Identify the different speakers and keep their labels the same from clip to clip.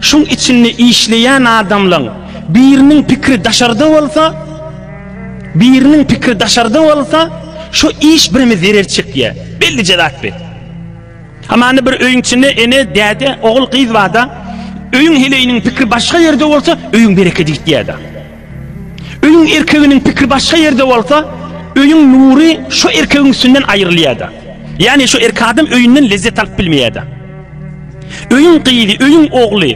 Speaker 1: Şuň içinde işleýän adamlaň biriniň pikiri daşarda bolsa, biriniň pikiri daşarda bolsa, şo iş bireme zerer çekýä. Bellije zat bi. Hamanda bir öýüň içinde ene, däde, ogul, gyz barda, öýüň heleýiniň pikiri başga ýerde bolsa, öýüň berekedi gitýädä. Öýüň erkeginiň pikri başga ýerde bolsa, öýüň nury şo erkegiň üstünden aýrylýar-da. Ýagny şo erkek adam öýünden lezzet alyp bilmeýär-de. Öýüň gyzy, öýüň ogly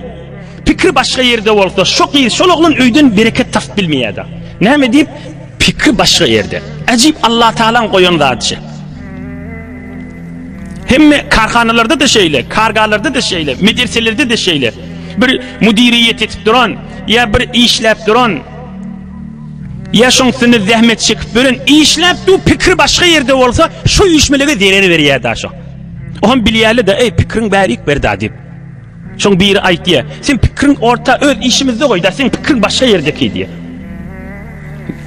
Speaker 1: pikri başga ýerde bolsa, şo gyz, şol oglan öýden bereket tapyp bilmeýär-de. Näme diýip, pikri başga ýerde. Äjip Allatagalaň goýan zady şe. Hemme karhanalarda-da şeýle, kargalarda-da şeýle, medreselerde-de şeýle. Bir müdiriýet etip duran, Ýa bir işläp duran, ýa şoň üstünde zähmet çekip ýören, işläp dur, pikir başga ýerde bolsa, şu üýşmelege zerer berýär da şo. Oňam bilýärli-de, eý, pikiriň bärik berda diýip. Şoň biri aýtýa, sen pikiriň orta öz işimizde goýda, sen pikiriň başga ýerdeki diýe.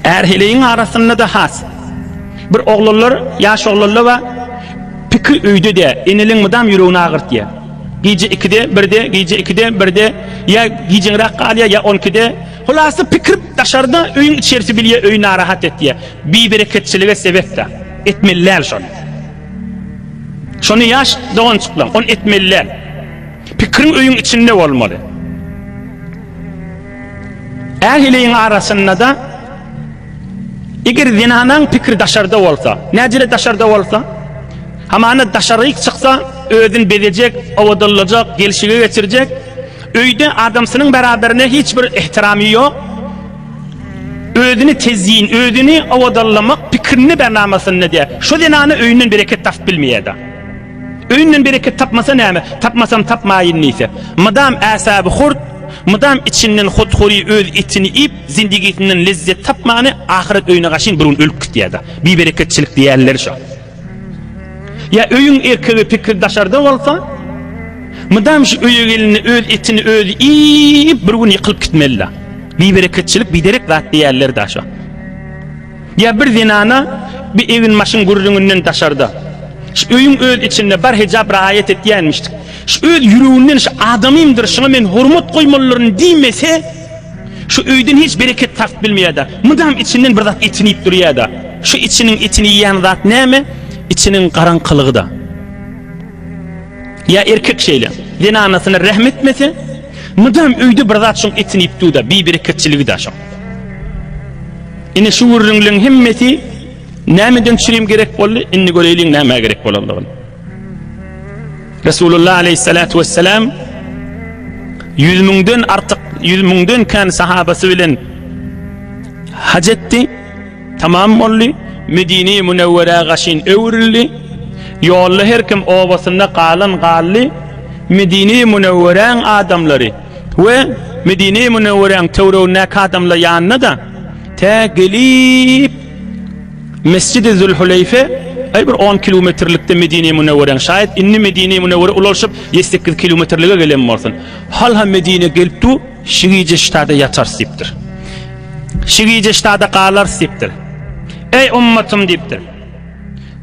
Speaker 1: Ärheleýiň arasynda da has. Bir oglanlar, ýaş oglanlar we pikir öýde de, eneliň mydam ýüregini agyrtýa. Gije ikide, birde, gije ikide, birde, ýa gijeňräk galýar, ýa on ikide. Hulasa pikir daşarda, öýüň içerisi bilýär, öý narahat etýär. Bibereketçilige sebäp-dä. Etmeli däl şony. Şony ýaş doganjyklar, ony etmeli däl. Pikiriň öýüň içinde bolmaly. Ähliň arasynda-da Eger zenanaň pikri daşarda bolsa, näcele daşarda bolsa, hamana daşaryk çyksa, özüni bezejek, owadanlajak, gelşige geçirjek, öýde adamsynyň beraberine hiç bir ihtiramy ýok, özüni tezyin, özüni owadanlamak pikrini bernamasynda diýär. Şu zenana öýünden bereket tapyp bilmeýär-de. Öýünden bereket tapmasa näme, tapmasam tapmaýyn diýse. Mydam äsaby hurt, mydam içinden hothury öz etini iýip, zindigisinden lezzet tapmany ahyret öýüne gaşyn bir gün ölüp gitýär-de. Bibereketçilik diýýänleri şo. Ýa öýüň erkegi pikir daşarda bolsa, mydam şu öýe gelende öz etini özi iýip bir gün ýykylyp gitmeli-de. Bibereketçilik biderek zat diýýärler-de şo. Ýa bir zenana bir egin-maşyň gürrüňinden daşarda, şu öýüň öz içinde bar hejap raýat etýänmişdik, şu öz ýüreginden şu adamymdyr, şuňa men hormat goýmalylaryn diýmese, şu öýden hiç bereket taryp bilmeýär-de, mydam içinden bir zat etini iýip durýar-da. Şu içiniň etini iýýän zat näme? Içiniň garaňkylygy-da. Ýa erkek şeýle, zenanasyna rähm etmese, mydam öýde bir zat şuň etini iýip dur-da, bibereketçiligi-de şo. Ine şu gürrüňleň hemmesi nämeden çürim gerek boldy? Indi göreýliň nämä gerek bolandygyny. Resulullah aleyhissalatu vesselam ýüz müňden artyk, ýüz müňden kän sahabasy bilen hac etdi, tamam boldy. Medine Münewwere gaşyn öwrüldi. Ýolda her kim obasynda galan galdy. Medine Münewwereň adamlary We Medine-i Münewweräň töweregindäki adamlar ýanyna-da tä gelip Mesjidi Zülhuleýfe, aý bir on kilometrlikde Medine-i Münewweräň, şaýat indi Medine-i Münewwerä ulalşyp ýedi sekiz kilometrlige gelen bolsun. Hal-ha Medinä gelip dur, şi gije ştada ýatarys diýipdir. Şi gije ştada galarys diýipdir. Eý ummatym diýipdir.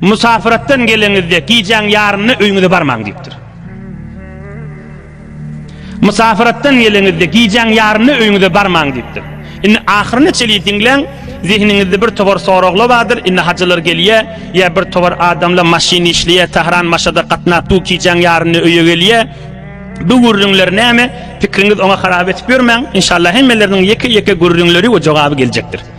Speaker 1: Musafiratdan geleňizde gijäň ýarynyna öýüňize barmaň diýipdir. Musafiratdan geleňizde, gijäň ýarynda öýüňize barmaň diýipdir. Indi ahyryna çenli diňläň, zehniňizde bir topar soraglar bardyr, indi hajylar gelýär, ýa bir topar adamlar maşyn işleýär, Tahran Maşada gatnap dur, gijäň ýarynda öýe gelýär, bu gürrüňler näme, pikriňiz oňa harap etip ýörmäň, inşallah hemmeleriniň ýeke-ýeke gürrüňleri we jogaby geljekdir.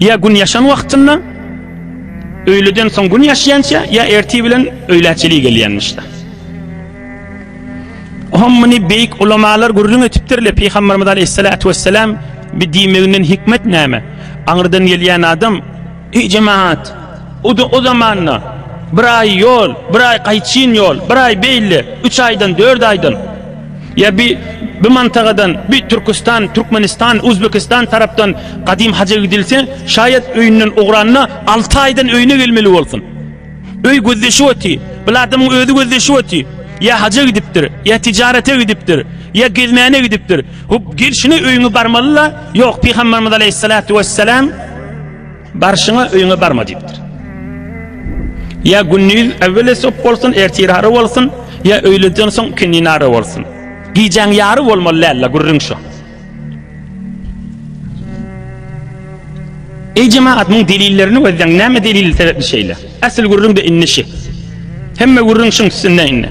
Speaker 1: Ýa gün ýaşan wagtynda öýleden soň gün ýaşýança ýa ertir bilen öýlä çili gelýänmişde. Hom muny beýik ulamalar gürrüň etipdirler. Pygamberimiz aleyhissalatu vesselam bir diýmeginden hikmet näme? Aňyrdan gelýän adam, "Eý jemaat, o, o zamanda bir aý ýol, bir aý gaýçyn ýol, bir aý beýle, üç aýdan, dört aýdan Ýa bi bi mantagadan, bi Türküstan, Türkmenistan, Uzbekistan tarapdan gadym haja gidilse, şaýat öýünden ugranda alty aýdan öýüne gelmeli bolsun. Öý gözleşip oty, bil adamyň özi gözleşip oty. Ýa haja gidipdir, ýa tijarete gidipdir, ýa gezmäne gidipdir. Hop, gelşine öýüňe barmaly-la. Ýok, Pygamberimiz aleýhissalatu wessalam. Barşyňa öýüňe barma diýipdir. Ýa gündiz äwweli sop bolsun, ertir ary bolsun, ýa öýleden soň ikindi nary bolsun. Gijäň ýary bolmaly däl-le, gürrüň şu. Eý jemagat, muň delillerini gözleň, näme delil sebäpli şeýle? Äsli gürrüň-de indi şi. Hemme gürrüň şuň üstünde indi.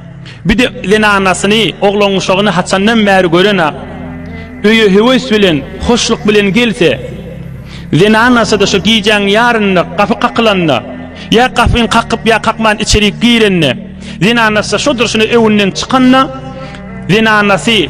Speaker 1: Bir de zenanasyny, oglanuşagyny haçandan bäri gören-ak. Öýe höwes bilen, hoşluk bilen gelse, zenanasy-da şo gijäň ýarynda gapy kakylanda, ýa gapyny kakyp, ýa kakman içerik girende, zenanasy-da şo durşuna öwünden çykanda, zenanasy.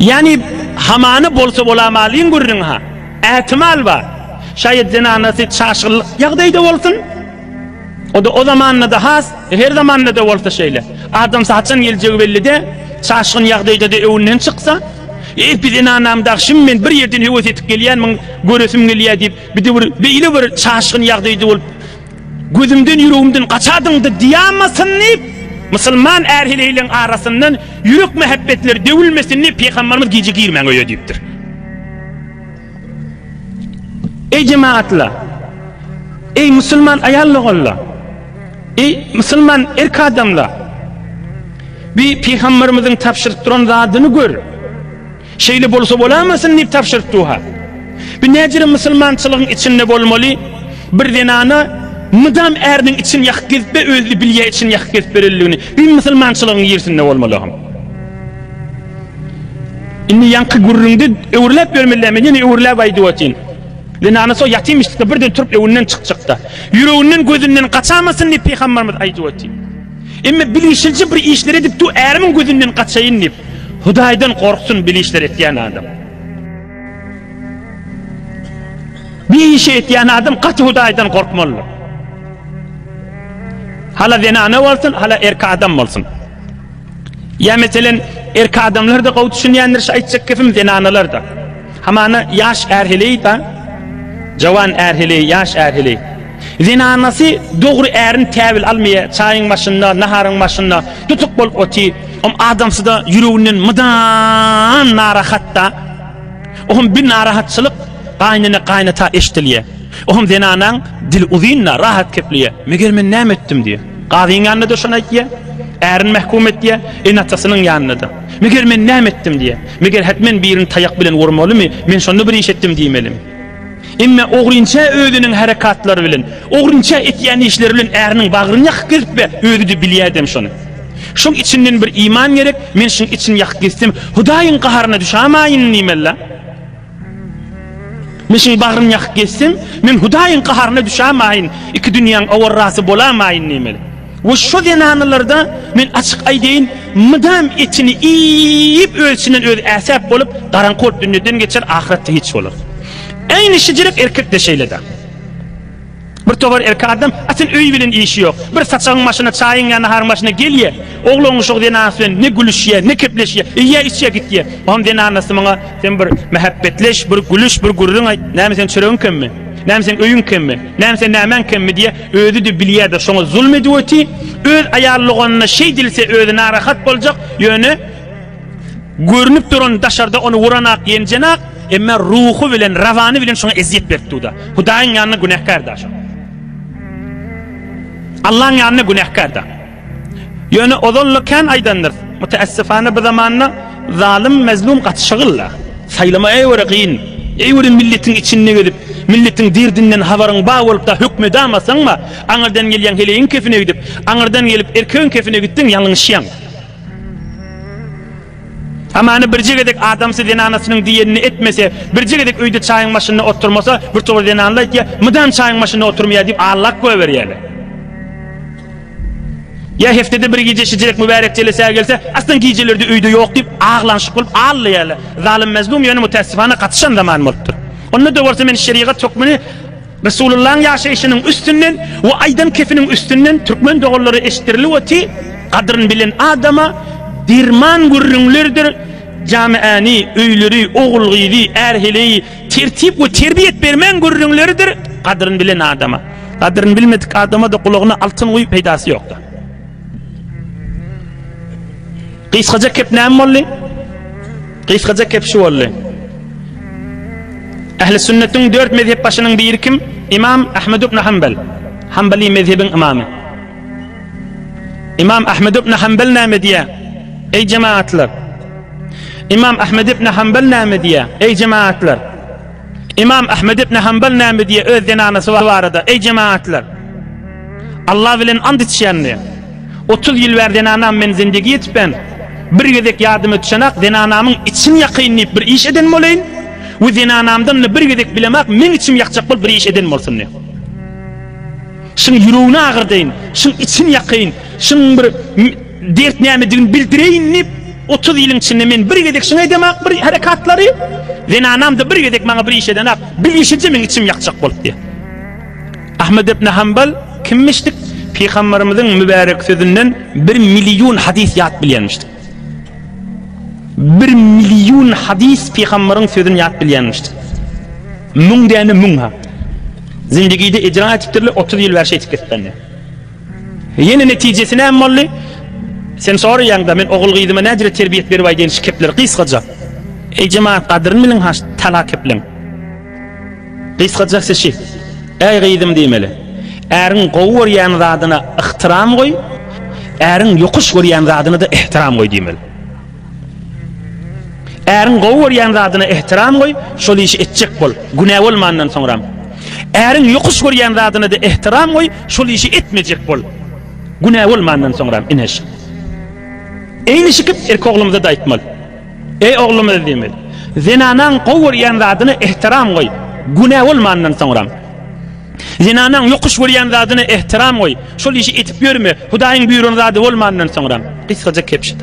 Speaker 1: Ýani, hamany bolsa bolamalyň gürrüň-ha. Ätimal bar. Şaýat zenanasy çaşgynly ýagdaýda bolsun. O-da o zamanda-da has, her zamanda-da bolsa şeýle. Adams haçan geljegi belli-dä. Çaşgyn ýagdaýda-da öňünden çyksa, Epi zenanam dag şim men bir ýerden höwes edip gelýän, muny göresim gelýär diýip, bidewir beýle bir çaşgyn ýagdaýda bolup, Gözümden ýüregimden gaçadyňda diýamasyn diýip Musulman är heleýleň arasyndan ýürek mähebbetleri döwülmesin diýip Pygambarymyz gije girmäň öýe diýipdir. Eý jemagatlar! Eý musulman aýal doganlar! Eý musulman erk adamlar! Bi Pygambarymyzyň tabşyryp duran zadyny gör! Şeýle bolsa bolamasyn diýip tabşyrypdyha. Bu näjere musulmançylygyň içinde bolmaly? Bir zenana mydam äriniň içini ýakyp gezip be özli bilýä içini ýakyp gezip berenligini. Bu musulmançylygyň girsinde bolmalyham. Indi ýaňky gürrüňde öwrüläp bermelä men ýene öwrüläp aýdyp otyn. Zenana so ýatym işlikde birden turup öwünden çykjakda. Ýüreginden gözünden gaçamasyn diýip pygambarymyz aýdyp otyn. Emma bilişilje bir işler edip du ärimiň gözünden gaçaýyn diýip. Hudaýdan gorksun bir işler etýän adam. Bir işi etýän adam gaty Hudaýdan gorkmaly. Hala zenana bolsun, hala erkek adam bolsun. Ya mesela erk adamlar da gowy düşünýändir şu aýtjak gepim zenanalar da. Hamana ýaş ärheleý da jawan ärheleý, ýaş ärheleý. Zenanasy dogry ärin käwil almaýa, çaýyň başynda, naharyň başynda tutuk bolup otyr. Oňa adamsyda ýüreginden mydam narahat-da. Oňa bir narahatçylyk gaýnene-gaýnata eşdilýä. Oňa zenanaň dili uzyn-da, rahat gepleýä. Meger men näme etdim diýä. Gazyň ýanynda-da şony aýtýa, ärin mähkum etýä, ene-atasynyň ýanynda-da. Meger men näme etdim diýä. Meger hätmen birini taýak bilen urmalymy, men şonda bir iş etdim diýmelimi. Emma ogrynça özüniň harakatlary bilen, ogrynça etýän işleri bilen äriniň bagryny ýakyp gezip we özi-de bilýärdem şony. Şuň içinden bir iman gerek, men şuň içini ýakyp gezsem, Hudaýyň gaharyna düşämäýin diýmeli-dä. Men şuň bagryny ýakyp gezsem, men Hudaýyň gaharyna düşämäýin, iki dünýäň awarrasy bolamaýyn diýmeli. We şo zenanlarda men açyk aýdaýyn mydam etini iýip öz içinden özi äsäp bolup garaňky bolup dünýeden geçer ahyratda hiç bolar. Äýni şijirek erkekde şeýlede. Bir tobar erkek adam atin öý bilen işi ýok. Bir saçagyň maşyna çaýyň ýa naharyň maşyna gelýe. Oglan uşak zenanasy bilen ne gülüşýe, ne kepleşýe. Iýýe içýe gitýe. Ogam zenanasy muňa sen bir mähäbbetleş, bir gülüş, bir gürrüň aýt. Näme sen çöregiň kemmi? Näme sen öýüň kemmi? Näme sen nämäň kemmi diýýe. Özi-de bilýär-de şoňa zulm edip öti, öz aýaly doganyna şeý dilse özi narahat boljak, ýöne görünip duran daşarda ony uranok, ýenjenak, emma ruhy bilen, rawany bilen şoňa ezýet berip dur-da. Hudaýyň ýanynda günäkär-da şo. Allaň ýanynda günäkär-da. Ýöne ozal-la kän aýdandyrys, müteessifana bu zamanda zalym, mezlum gaty şygylda. Saýlama eýwara kyn. Eýwara milletiň içinde gezip, milletiň derdinden habaryň bar bolup-da hökmedamasaň-a, aňyrdan gelýäň heleýiň kepine gidip, aňyrdan gelip erkegiň kepine gitseň ýalňyşýaň. Hamana birje gezek adamsy zenanasynyň diýenini etmese, birje gezek öýde çaýyň başynda oturmasa, birtowar zenanlar aýtýar, mydam çaýyň başynda oturmaýar diýip, allak goýberýärler. Ýa heftede bir gije şijirek mübärek jelesä gelse, aslyn gijelerde öýde ýok diýip, aglanşyk bolup aglaýarlar. Zalym-mezlum ýöne mütässifana gatyşan zaman bolupdyr. Onda-da bolsa men şerigat hökmüni Resulullahyň ýaşaýşynyň üstünden we aýdan kepiniň üstünden türkmen doganlara eşitdirilip oty, Gadryn bilen adama derman gürrüňlerdir, jamiäni, öýleri, ogul-gyzy, är-heleýi, Tertip we terbiýet bermegiň gürrüňleridir gadryn bilen adama. Gadryn bilmedik adama-da gulagyna altyn guýup peýdasy ýokda. Gysgaja kep näme boldy? Gysgaja kep şu boldy. Ähli sünnetiň dört mezhep başynyň biri kim? İmam Ahmed ibn Hanbel. Hanbeli mezhebin imamy. İmam Ahmed ibn Hanbel näme diýýär? Ey cemaatlar! Imam Ahmed ibn Hanbal näme diýýär? Eý jemaatlar! Imam Ahmed ibn Hanbal näme diýýär öz zenanasy barada? Eý jemaatlar! Allah bilen and içýän diýýär. 30 ýyl bäri zenanam men zindigi ýetipem, bir gezek ýadyma düşenak zenanamyň içini ýakaýyn diýip bir iş eden bolaýyn we zenanamdan bir gezek bilemak meň içimi ýakjak bolup bir iş eden bolsun diýýär. Şuň ýüregini agyrdaýyn, şuň içini ýakaýyn, şuň bir Dert nämedigini bildireýin diýip, otuz ýylyň içinde men bir gezek şuňa edemok bir herekatlary, zenanam-da bir gezek maňa bir iş edenok, bilişije meň içim ýakjak bolupdy. Ahmet ibn Hanbal kimmişdik? Pygamberimiziň mübärek sözünden bir million hadys ýat bilýänmişdik. Bir million hadys pygamberiň sözüni ýat bilýänmişdik. Müň däne müň ha. Zindigide ejra etipdirler, otuz ýyl bäri şeýtip gitipdirler. Ýene netijesi näme boldy? Sen soraýaňda, men ogul-gyzyma näcirä terbiýet beribaý diýen şu kepleri gysgaja. Eý jemagat gadyryn biliň ha şu tala kepleriň. Gysgaja sişi. Äý gyzym diýmeli. Äriň gowy görýän zadyna ygtyram goý, äriň ýokuş görýän zadyna-da ihtiram goý diýmeli. Äriň gowy görýän zadyna ehtiram goý, şol işi etjek bol, günä bolmandan soňram. Äriň ýokuş görýän zadyna-da ehtiram goý, şol işi etmejek bol, günä bolmandan soňram, ine şu. Eýnişikip erkek oglumyza-da aýtmaly. Eý oglumyz diýmeli. Zenanaň gowy görýän zadyna ehtiram goý, günä bolmandan soňram. Zenanaň ýokuş görýän zadyna ehtiram goý, şol işi etip ýörme, Hudaýyň buýran zady bolmandan soňram. Gysgaja kepşit.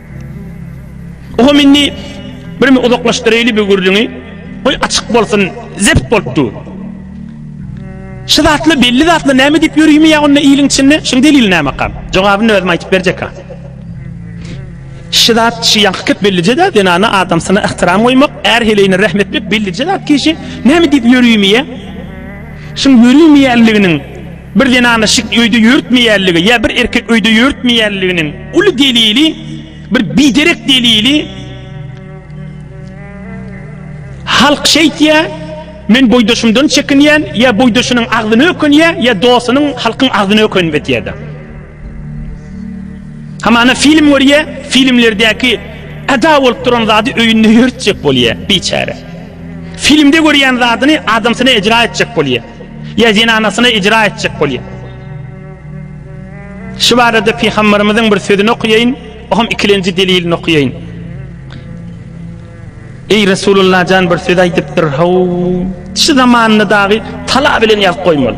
Speaker 1: Oho minni bir mi uzaklaşdyraýly bu gürrüňi. Goý açyk bolsun, zept bolup dur. Şu zatla belli zatla näme diýip ýörümi ýa onda iliň içinde? Şuň delili nämäkam? Jogabyny özüm aýdyp berjek-ä. Şu zat şu ýaňky köp bellije de zenana adamsyna ihtiram goýmak, är heleýine rehm etmek bellije zat kişi näme diýip ýörümi ýa? Şuň ýörümi ýalygynyň Bir zenanyň şik öýde ýörütmeýänligi ýa bir erkek öýde ýörütmeýänliginiň uly delili, bir biderek delili halk şeýtýär, men boýdaşymdan çekinýän, ýa boýdaşynyň agzyna ökünýär, ýa dostunyň, halkyň agzyna ökünip etýär-de. Hamana film görýä, filmlerdäki ada bolup duran zady öýünde ýörtjek bolýa, biçäre. Filmde görýän zadyny adamsyna ejra etjek bolýa. Ýa zenanasyna ejra etjek bolýa. Şu barada pygamberimiziň bir sözüni okuýaýyn, o hem ikilenji delilini okuýaýyn. Eý Resulullah jan bir söz aýdypdyr, haw, şu zamanda dagy tala bilen ýazyp goýmaly.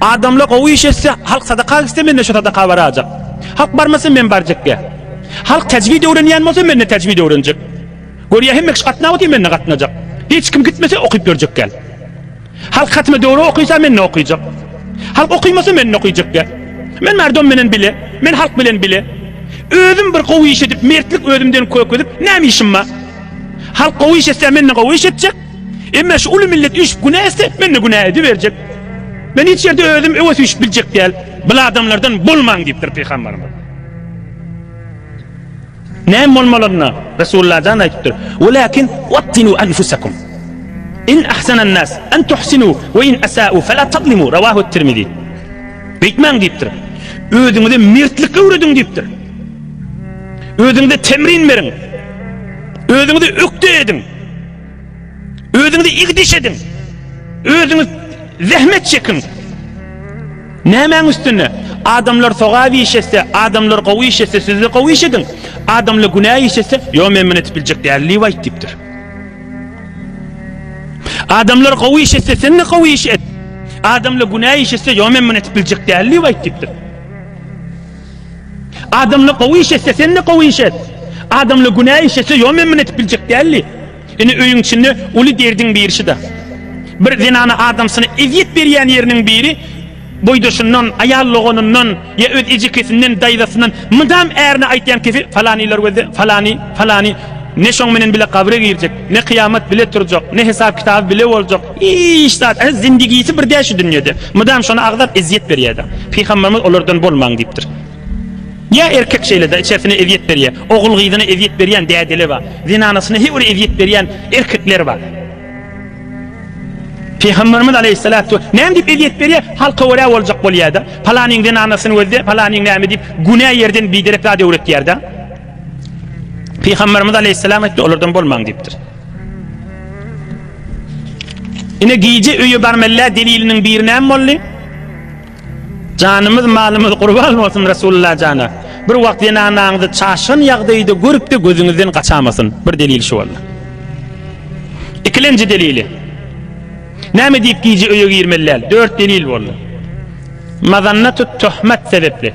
Speaker 1: Adamlar gowy iş etse, halk sadaka etse mende şu sadaka barajak. Halk barmasa men barjakge. Halk tejwid öwrenýän bolsa mende tejwid öwrenjek. Görýä hemme kişi gatnap otyr mende gatnajak. Hiç kim gitmese okyp görjek gel. Halk hatme döwre okysa mende okyjak. Halk okymasa mende okyjak gel. Men merdom menen bile, men halk bilen bile. Özüm bir gowy iş edip, mertlik özümden kök edip, näme işim bar? Halk gowy iş etse mende gowy iş etjek. Emme şu uly millet üýşüp günä etse, men-de günä ediberjek. Men hiç ýerde özüm öwes üýşüp biljek däl. Bul adamlardan bolmaň diýipdir Pygamberimiz. Näme bolmalaryna Resulullah jan aýdypdyr. Walakin wattinu anfusakum. In ahsanan nas an tuhsinu we in asa'u fala tadlimu. Rawahu Tirmizi. Beýtmäň diýipdir. Özüňize mertlik öwrediň diýipdir. Özüňize temrin beriň. Özüňize ökde ediň. Özüňize igdiş ediň. Özüňiz zähmet çekiň. Nämäň üstünde? Adamlar sogap iş etse, adamlar gowy iş etse, siz-de gowy iş ediň. Adamlar günä iş etse, ýok men muny etip biljek däl diýip aýt diýipdir. Adamlar gowy iş etse, sen-de gowy iş et. Adamlar günä iş etse, ýok men muny etip biljek däl diýip aýt diýipdir. Adamla gowy iş etse sende gowy iş et. Adamla günä iş etse ýom emmin etip biljek däldi. Indi öýüň içinde uly derdiň birşida. Bir zenana adamsyna ezýet berýän ýeriniň biri boýdaşyndan, aýal doganyndan ýa öz ejekesinden, daýzasyndan mydam ärine aýtýan kefi falanylar gözde, falany, falany ne şoň menen bile gabra girjek, ne kyýamat bile turjak, ne hesap kitaby bile boljak, Hiç zat, ä zindigisi bir däl şu dünýede. Mydam şony agzap ezýet berýäda. Pygamberimiz olardan bolmaň diýipdir. Ýa erkek şeýleda içersine ezýet berýä. Ogul gyzyna ezýet berýän dädeler bar. Zenanasyna he bir ezýet berýän erkekler bar. Pygamberimiz aleýhissalat we näme diýip ezýet berýä? Halka görä boljak bolýada. Palanyň zenanasyny gözle, palanyň näme diýip günä ýerden biderek zat öwretýärda. Pygamberimiz aleýhissalam aýtdy, olardan bolmaň diýipdir. Ine gije öýe barmella deliliniň biri näme boldy? Janymyz malymyz gurban bolsun Resulullah jana. Bir wagt zenanaňyzy çaşgyn ýagdaýda görüp-de gözüňizden gaçamasyn. Bir delil şu boldy. Ikilenji delili. Näme diýip gije öýe girmeli? Dört delil boldy. Mazannatut tuhmat sebepli.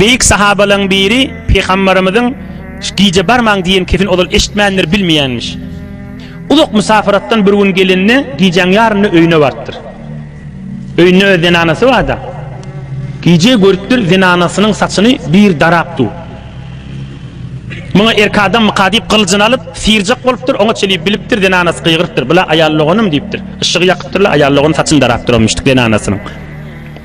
Speaker 1: Beýik sahabalaň biri Pygambarymyzyň Gije barmaň diýen kesin ozal eşitmändir, bilmeýänmiş. Uzak musafaratdan bir gün gelende gijäň ýarynda öýüne barypdyr. Öýünde öz zenanasy barda. Gije görüpdir zenanasynyň saçyny bir darap du. Muňa erk adam myka diýip gylyjyny alyp syrjak bolupdyr, oňa çelip bilipdir, zenanasy gygyrypdyr. Bula aýal doganym diýipdir. Yşygy ýakypdyrlar, aýal dogan saçyny darapdyr o müşdik zenanasynyň.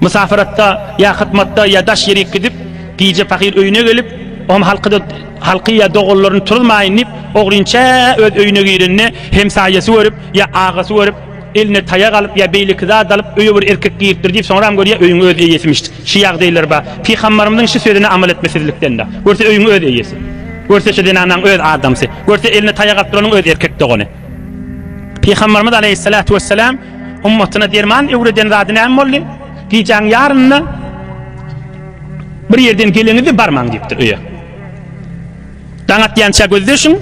Speaker 1: Mysafiratda ýa hyzmatda ýa daş ýerik gidip, gije pahyr öýüne gelip, oňa halkyda halky ýa doganlaryny turuzmaýyn diýip, ogrynça öz öýüne girende, hemsaýasy görüp ýa agasy görüp, eline taýak alyp ýa beýleki zat alyp, öýe bir erkek giripdir diýip, soňram görýär, öýüň öz eýesimiş. Şu ýagdaýlar bar. Pygambarymyzyň şu sözüne amal etmesizlikden-de. Görse öýüň öz eýesi. Görse şu zenanaň öz adamsy. Görse eline taýak alyp duranyň öz erkek dogany. Pygamberimiz aleýhissalatu wesselam ummatyna derman öwreden zady näme boldy? Gijäň ýarynda bir ýerden geleňizde barmaň diýipdir öýe. Daň atýança gözleşiň.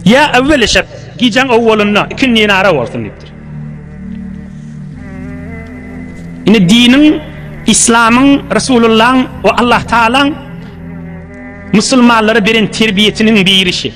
Speaker 1: Ýa awwel eşep, gijäň owwalynda ikindini ara bolsun diýipdir. Ine diniň, islamyň, Resulullahyň we Allah Taalaň musulmanlara beren terbiýesiniň birisi.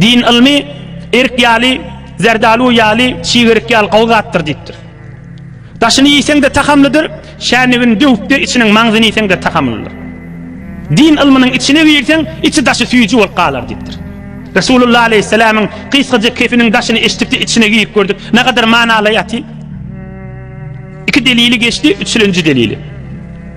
Speaker 1: Din ylmy erik ýaly, zerdalu ýaly, çigerik ýaly gowy zatdyr diýipdir. Daşyny iýseň-de tahamlydyr, çäýnegini döwüp-de içiniň maňzyny iýseň-de tahamlydyr. Din ylmynyň içine girseň, içi-daşy süýji bolup galar diýipdir. Resulullah aleýhissalamyň gysgaja kefiniň daşyny eşidip-de içine girip gördük. Nagadar manaly ýaty. Iki delili geçdi, üçlenji delili.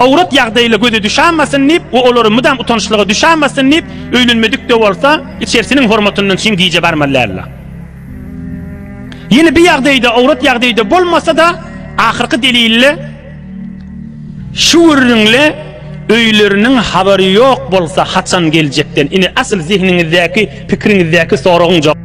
Speaker 1: Awrat ýagdaýla göze düşämasyn diýip we olara mydam utanyşlyga düşämasyn diýip, öýlenmedik-de bolsa, içerisiniň hormatyndan çyn gije barmazlarla. Ýene bir ýagdaýda awrat ýagdaýda bolmasa-da, ahyrky delille şu gürrüňle öýleriniň habary ýok bolsa haçan geljekden? Ine, asyl zehniňizdäki, pikiriňizdäki soragyň jogaby.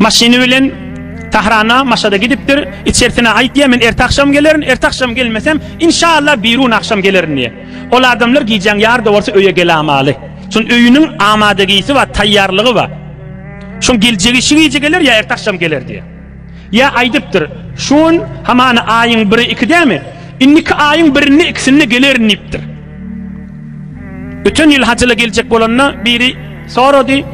Speaker 1: Maşyny bilen Tahrana, Maşada gidipdir. Içerisine aýtýar, men erte agşam gelerin, erte agşam gelmesem, inşallah birun agşam gelerin diýýär. Ol adamlar gijäň ýarda bolsa öýe gelamaly. Şoň öýüniň amadagisi bar, taýýarlygy bar. Şoň geljegi şu gije geler ýa erte agşam geler diýýär. Ýa aýdypdyr, şu gün hamana aýyň biri iki dämi? Indiki aýyň birinde ikisinde gelerin diýipdir. Öten ýyl hajyla geljek bolanda biri sorady,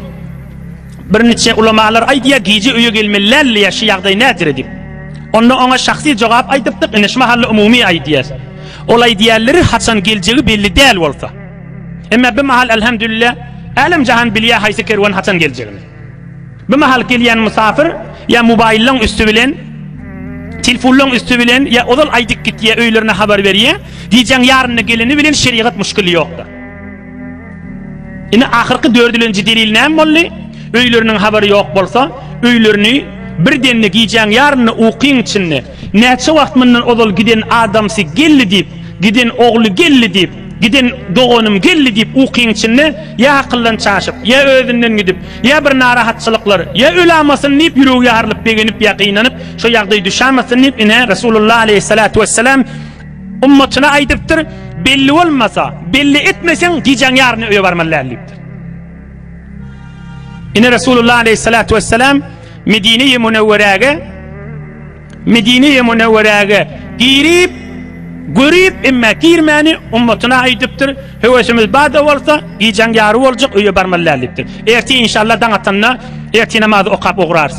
Speaker 1: Birniçe ulamalar aýdýar, gije öýe gelmeli däldi ýa şu ýagdaý nädire diýip. Onda oňa şahsy jogap aýdypdyk, ine şu mahally umumy aýdýas. Ol aýdýarlary haçan geljegi belli däl bolsa. Emma bi mahal alhamdulilla älem jahan bilýär haýsy kerwen haçan geljegini. Bi mahal gelýän musafir ýa mobaýyllaň üsti bilen Tilfunlaň üsti bilen ýa ozal aýdyp gitýär öýlerine habar berýär. Gijäň ýarynda geleni bilen şerigat muşkili ýokdur. Indi ahyrky dördülenji delil näme boldy? Öýleriniň habary ýok bolsa, öýlerini birdenli gijäň ýarynda ukyň içinde, näçe wagt mundan ozal giden adamsy geldi diýip, giden ogly geldi diýip, giden doganym geldi diýip ukyň içinde ýa akyldan çaşyp, ýa özünden gidip, ýa bir narahatçylyklar, ýa ölamasyn diýip ýüregi ýarylyp begenip ýa gynanyp, şo ýagdaý düşämesin diýip, ine, Resulullah aleýhissalatu wessalam, Ummatyna aýdypdyr, Belli bolmasa, belli etmeseň, gijäň ýaryny öýe barmaly däl diýipdir. Ine Resulullah aleýhissalatu wessalam Medine-i Munewwerege Medine-i Munewwerege girip, görip, emma girmäni ummatyna aýdypdyr, Höwesimiz bar-da bolsa, gijäň ýary boljak, öýe barmaly däl diýipdir. Ertir inşallah daň atanda ertir namazy okap ugrarys.